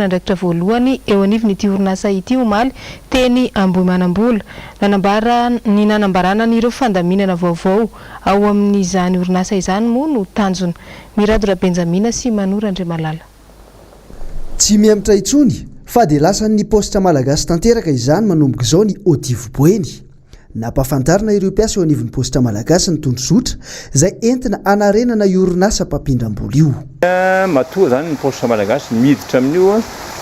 andraikitra voalohany eo anivon'ity orinasa ity omaly teny Ambohimanambola. Nanambara ny nanambarana an'ireo fandaminana vaovao ao amin'izany orinasa izany moa no tanjona. Mirado Rabenjamina sy Mano Randriamalala. Tsy mihemotra intsony fa dia lasan'ny paositra malagasy tanteraka izany manomboka izao ny Odivo Boeny. Nampahafantarina ireo mpiasa eo anivon'ny Paositra Malagasy ny tondrozotra izay entina hanarenana io orinasa mpampindram-bola io. Matoa izany ny Paositra Malagasy miditra amin'io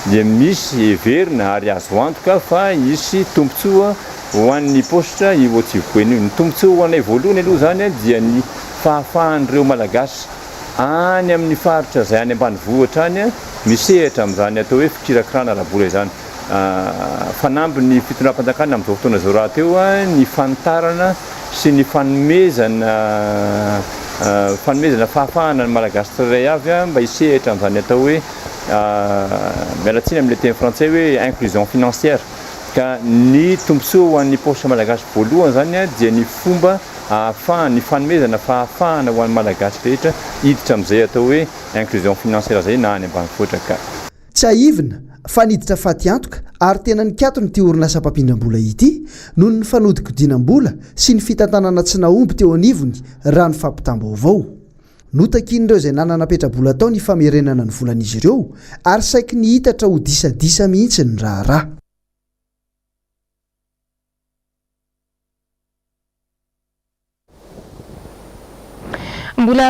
dia misy heverina ary azo antoka fa hisy tombontsoa ho an'ny Paositra io Otsivipoena io. Ny tombontsoa ho anay voalohany aloha izany dia ny fahafahan'ireo Malagasy any amin'ny faritra izay any ambanivohitra any misehatra amin'izany atao hoe fikirakirana ara-bola izany. fanamby ny fitondram-panjakana amin'izao fotoana izao rahateo ny fanitarana sy ny fanomezana fanomezana fahafahana ny Malagasy tsirairay avy mba hisehatra amin'izany atao hoe miala tsiny amin'ilay teny frantsay hoe inclusion financière. Ka ny tombontsoa ho an'ny paositra Malagasy voalohany izany dia ny fomba ahafahana, ny fanomezana fahafahana ho an'ny Malagasy rehetra hiditra amin'izay atao hoe inclusion financière izay na any ambanivohitra ka. Tsiahivina fa niditra fatiantoka ary tena nikatona ity orinasa mpampindram-bola ity noho ny fanodinkodinam-bola sy ny fitantanana tsy nahomby teo anivony raha ny fampitam-baovao. Notakin'ireo izay nanana petra-bola tao ny famerenana ny volan'izy ireo ary saiky nihitatra ho disadisa mihitsy ny raharaha. Mbola.